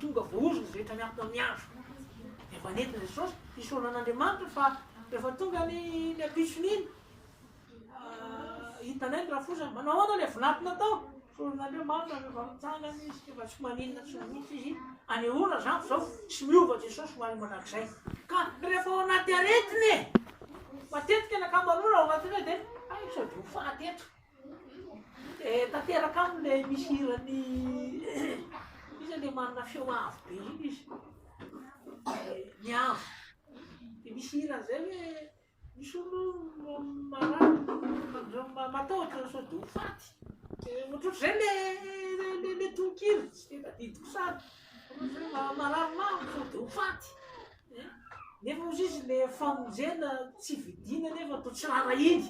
Tonga voahozo ny rehetra miantona amin'ny andro. Dia efa nentin'i Jesosy hisaona an'Andriamanitra fa efa tonga ny ny ampitsony iny. Hitanay ny rafozany, manahoana ilay vinato natao? Soron'Andriamanitra no efa mitsangana izy, tsy efa tsy maninona tsy maninona izy. Anehoana izany fa izao tsy miova Jesosy hoaly mandrakizay. Ka rehefa ao anaty aretina e! Matetika ny ankamaroana ao anaty aretina dia, hay sao dia ho faty eto. Dia tanteraka aminy ilay misy hiran'i iza ilay manana feo avo be iny izy? Ny avo. Dia misy hirany izay hoe misy olona marary matahotra hoe sao dia ho faty. Ohatrohatr'izay ilay ilay tononkira, tsy dia tadidiko sary. Ohatrohatr'izay marary mafy sao dia ho faty. Nefa hozy izy ilay famonjena tsy vidiana nefa toa tsy rarahiny.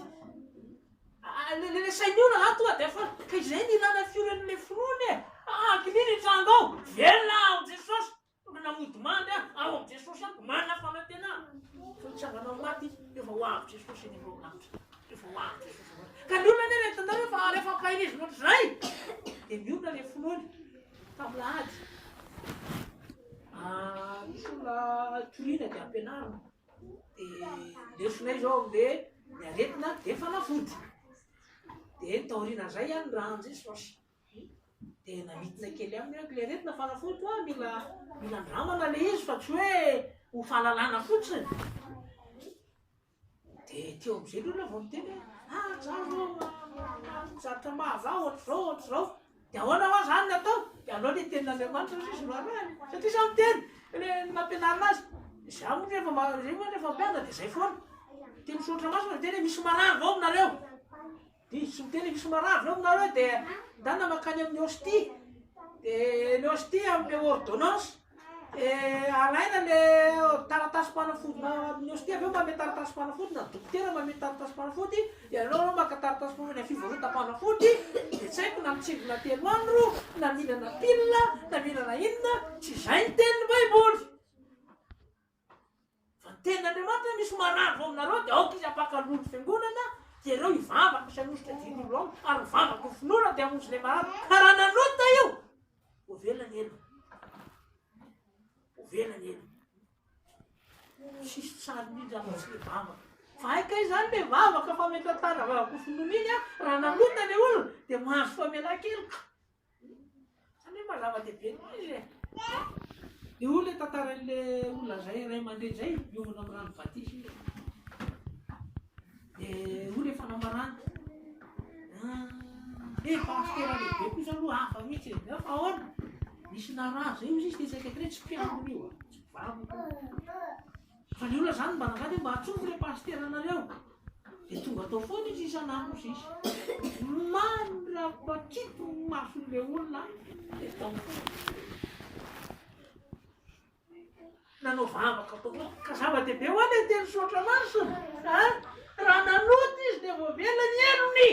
Resahin'ny olona aho tonga dia fa ka izay no ilana fiorenan'ilay finoana e! Hakinia ny tranga ao! Velona aho amin'i Jesosy! Olona mody mandry aho, ao amin'i Jesosy aho, manana fanantenana. Fa mitsangana amin'ny maty izy, rehefa ho avy Jesosy eny ambony lanitra. Rehefa ho avy Jesosy eny ambony. Ka ny olona anefa eto an-tany rehefa rehefa ampahirezina ohatr'izay, dia mionona ilay finoany. Tamin'ny lahady, ah, misy olona toriana dia ampianarina. dia lesona izao ambe ny aretina dia fanafody dia ny taoriana izay ihany ny rano izay sôsy dia namitina kely aminy hoe ilay aretina fanafody hoa mila mila andramana ilay izy fa tsy hoe ho fahalalana fotsiny dia teo amizay aloha ilay vao niteny hoe ah zah zao ah, ah, ah, zatra mahazah ohatr'izao ohatr'izao Dia ahoana hoa izany ny atao? Dia alao ilay tenin'Andriamanitra hozy izy no arahiny. Satria izany ny teny, ilay ny nampianarina azy. Izaho moa rehefa ma- izaho moa rehefa mpianatra dia izay foana. Dia ny soratra masina dia tena misy marary vao aminareo. Dia izy tsy miteny hoe misy marary vao aminareo dia ndana mankany amin'ny hostie. Dia ny hostie amin'ilay ordonnance. Dia alaina ilay taratasim-panafody amin'ny hostia avy eo manome taratasim-panafody na dokotera manome taratasim-panafody dia aleo ianao maka taratasim-panafody any fivarotam-panafody dia tsy haiko na mitsingona telo andro na mihinana pilina na mihinana inona tsy izay ny tenin'ny baiboly Fa ny tenin'Andriamanitra misy marandrao aminareo dia aoka izy hampaka loha ny fiangonana dia ireo hivavaka misy hanosika jiro ao ary ny vavaka ho finoana dia hamonjy ilay marary ka raha nanota io ho velona ny ela ho velona ny ela sisy tsary mihitsy afa tsy le vavaka fa aika izany le vavaka fa mety atara vavaka ho finoana iny a raha nanota le olona dia mahazo famela keloka Zany mba zava dehibe ny maha izy e! Eo ilay tantaran'ilay olona iray ray aman-dreny izay miomana amin'ny rano batisa io. Dia io ilay fanambarana. Dia ah, pasitera lehibe kosa aloha hafa mihitsy e. Fa ahoana? Misy narary izay izy dia tsy mpiambina io. Tsy vavaka. Fa ny olona zany mba nangady mba atsofoka le pasitera nareo de tonga tao foana izy isan'andro sisa mandrapakiky ny mason'le olona de tao nanao vavaka tao foana ka zava-dehibe hoa le teny soatra masina a raha nanota izy de voavela ny helony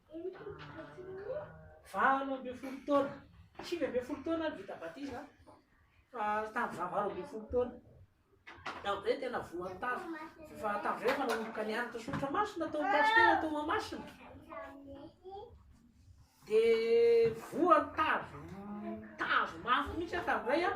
Valo ambin'ny folo taona, sivy ambin'ny folo taona aho no vita batisa fa tamin'ny faha valo ambin'ny folo taona. Tamin'izay tena voan'ny tavy fa tamin'izay efa nanomboka nianatra soratra masina tao Pasitera tao Mahamasina. Dia voan'ny tavy tavy mafy mihitsy aho tamin'izay an.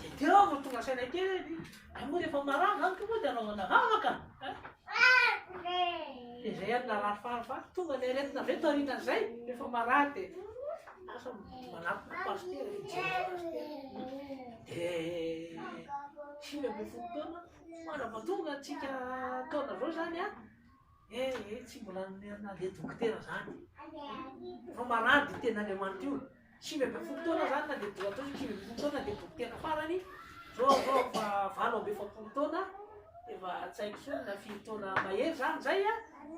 Dia teo aho vao tonga saina kely hoe dia hay moa rehefa marary amiko moa dia anaovana vavaka an! Dia izay ary narary fahafaha. Tonga ny aretina avy eo taorianan'izay rehefa marary dia lasa manatona pasitera e, mijery an'i pasitera. Dia sivy ambin'ny folo taona, somary vao tonga antsika taona izao izany an! Eh eh, tsy mbola nandeha dokotera izany. Efa marary diten'Andriamanitra io. Sivy ambin'ny folo taona zany na dia bo atao sivy ambin'ny folo taona dia dokotera farany, zao atao efa valo amby efapolo taona efa tsy haiko intsony na firy taona mahery zany zay a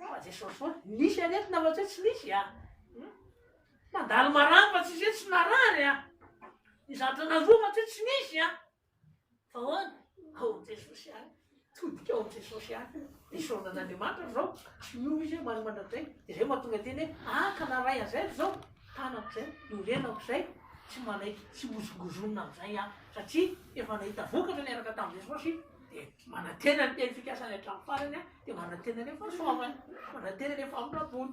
fa jesosy foana nisy aretina fa tsy hoe tsy nisy a hmm? mandalo marary fa tsy hoe tsy narary a ny zavatra nandroa fa tsy hoe tsy nisy a Fa ahoana? Ao Jesosy ihany. Todika ao Jesosy ihany. Ny zaonan'Andriamanitra zao, tsy miova izy hoe omaly mandrakizay. Dia zay mahatonga teny hoe, ah ka naray an'izay ry zao, tanako izay, norenako izay, tsy manaiky, tsy mozongozonina amin'izay aho. Satria efa nahita vokatra niaraka tamin'i Jesosy, dia manantena ny teny fikasany hatramin'ny farany aho, dia manantena ny fahasoavany, manantena ny famindram-pony.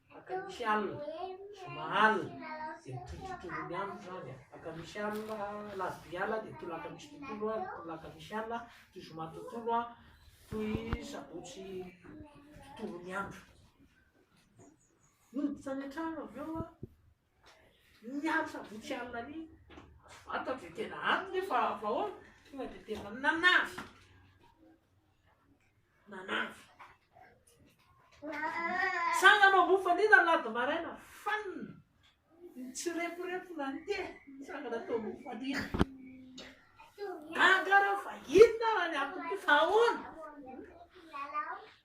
Mpaka misy alina, zoma alina dia mitohitohy ny andro izany an, mpaka misy alina, alarobia alina dia tolaka misy tontolo an, tolaka misy alina, toy zoma tontolo an, toy sabotsy tontolo ny andro. Noditra any an-trano avy eo an. Ny andro sabotsy alina ny vantany dia tena any nefa avy ao tonga dia tena nanavy. Nanavy. Tsangana ao ambony fandriana lady maraina fanina. Nitsireporepona ny tena tsangana tao ambony fandriana. Gaga reo fa inona raha ny antony ty fa ahoana?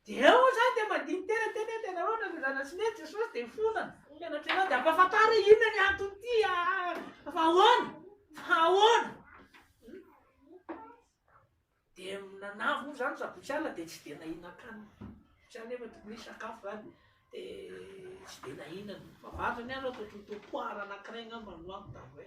Dia eo zany dia mandiny tena teny hoe tena hoe nanozana sy ne Jesosy dia fona mpianatry anao dia ampafantaro hoe inona ny antony ty fa ahoana? Fa ahoana? Dia nanavy moa zany sabotsy alina dia tsy dia nahinan-kanina. Tsy anefa tokony hisy sakafo zany dia tsy dia nahinan. Fa vary zany aho aloha ataoko ny tompo aho raha anankiray angamba no ampy da hoe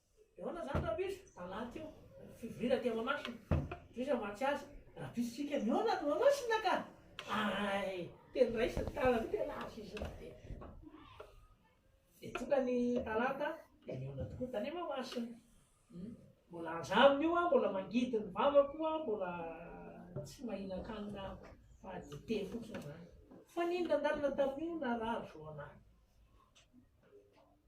Ahoana izany Rabizy? Talata io, fivorina aty Mahamasina. Tohizo hamatsy azy. Rabizy Tsika, Mihaona any Mahamasina ka! Hay! Teny raisiny tanana io tena azo izy io dia dia tonga ny talata dia nihaona tokoa tany Mahamasina. Mbola aza aminy io aho, mbola mangidy ny vavako aho, mbola tsy mahinan-kanina aho fa dite fotsiny izany. Fa nino nandalina tamin'io narary zo an'ahy.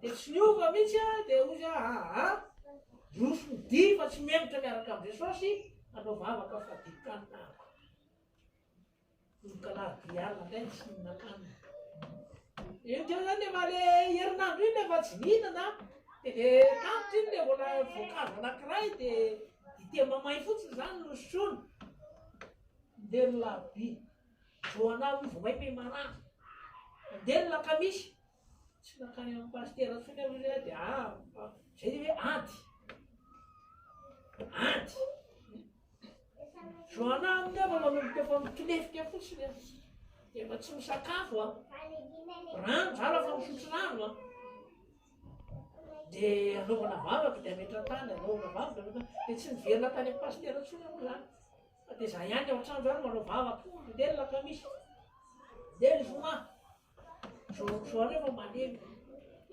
Dia tsy niova mihitsy a, dia hoy za aa, roso ny dihy fa tsy mendritra miaraka amin'i Jesosy, hanao vavaka fadin-kanina aho. Nonkalaro dihy alina indray ny tsy nihinan-kanina. Io teo zany efa le herinandro iny efa tsy nihinana, dia le tantitra iny le vola voankazo anankiray dia dite mamay fotsiny zany no sotroina. Ndeha ny larobia, joana io vao may mey marary. Ndeha ny lakamisy. Tsy nankany amin'ny pasitera intsony aloha izy dia ah, ah, izay ilay hoe ady. Ady. Joana aminy aho manomboka efa mitolefika fotsiny aho. Dia efa tsy misakafo aho. Rano zala fa misotro rano aho. Dia anaovana vavaka dia ametra-tany, anaovana vavaka, anaovana dia tsy miverina tany amin'ny pasitera intsony aloha izany. Fa dia izaho ihany ao an-trano izany manao vavaka, dia ny lakamisy, dia ny zoma. Misaotra anao fa maneno.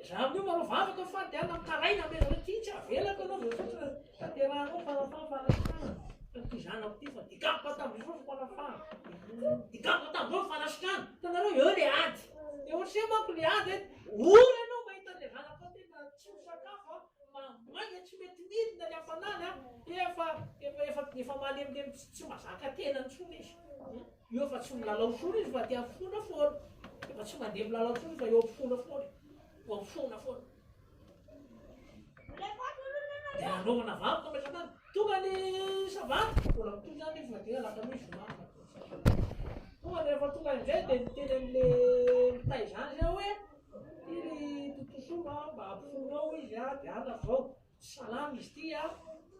Za amin'io mba anao vavaka fa dia mitaraina be zareo ty tsy avelako anao ve fotsiny tanterahanao farafaha fanasitranana tamin'ity zanako ty fa dikako hatao be fotsiny farafaha dikako hatao be fanasitrana hitanareo eo le ady de ohatran'izay manko le ady hoe ory anao mahita le zanakao ty na tsy misakafo a ma maika tsy mety midina ny hafanana dia efa efa efa efa malemilemy tsy tsy mazaka tena intsony izy. Io efa tsy milalao intsony izy fa tia mifona foana. Efa tsy mandeha milalao intsony fa eo mifona foana. Eo mifona foana. Dia anaovana vavaka mametra-tany. Tonga ny sabata, mbola mitohy ihany izy na dia alakamisy zoma. Tonga dia rehefa tonga indray dia miteny amin'ilay mitay izany izay hoe ity ry tontosoa a, mba ampifono ao izy a, dia any avy ao. Salama izy ity a,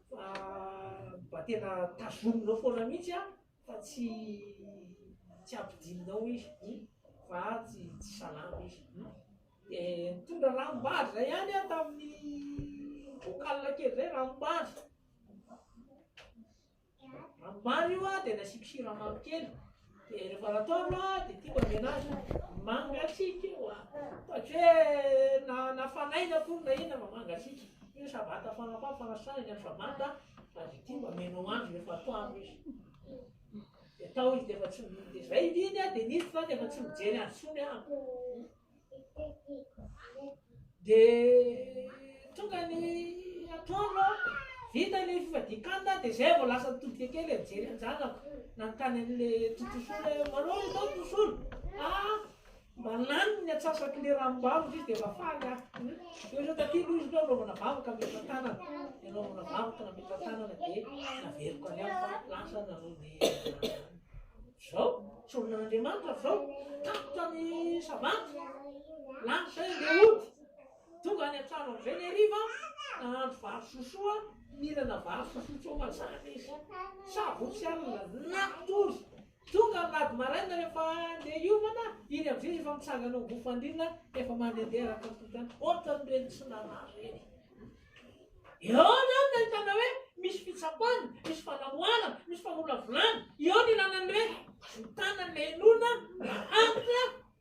fa mba tena tazominao foana mihitsy a. fa tsy tsy ampidinao izy fa tsy tsy salama izy de nitondra ranom-bary zay ihany aho tamin'ny bocal kely zay ranom-bary ranom-bary io aho de nasiako siramamy kely de rehefa nataolo aho de tiako avy anazy mangatsiaka io a fa tsy hoe na na fanaina akory na inona fa mangatsiaka io sabata fanapaha fanasana ny an'i sabata Avy ity mba meno andro rehefa atoandro izy. Dia tao izy dia efa tsy mihidy izy. Raha hididy aho dia nisy fa dia efa tsy mijery azy intsony aho. Dia tonga ny atoandro aho, vita ny fivadian-kanina dia izay vao lasa nitodika kely hijery an-janako. Nanontany an'ilay tontosolo hoe manao izao tontosolo? Ah, Manano ny atsasak'i le ranom-bavaka izy dia efa faly aho. Dia ohatra taty aloha izy hoe anaovana vavaka hametra-tanana, dia anaovana vavaka nametra-tanana dia naveriko any aho fa lasa ny an'ony Zao, sorona an'Andriamanitra avy zao, tapitra ny savant, lasa izy dia hody. Tonga any an-trano amin'izay ny hariva, nahandro vary sosoa, mihinana vary sosoa tsy ho mazava izy. Savotsy alina, natory, Tonga ny rad maraina rehefa andeha hiomana iny amizay izy efa mitsangana ao bouffandine efa mandendeha araka ny toetrany otrany reny tsy narary reny eo zany no ahitana hoe misy fitsapana misy fanamoarana misy famolavolana eo ny ilana ny hoe azony tanany le enona mba antitra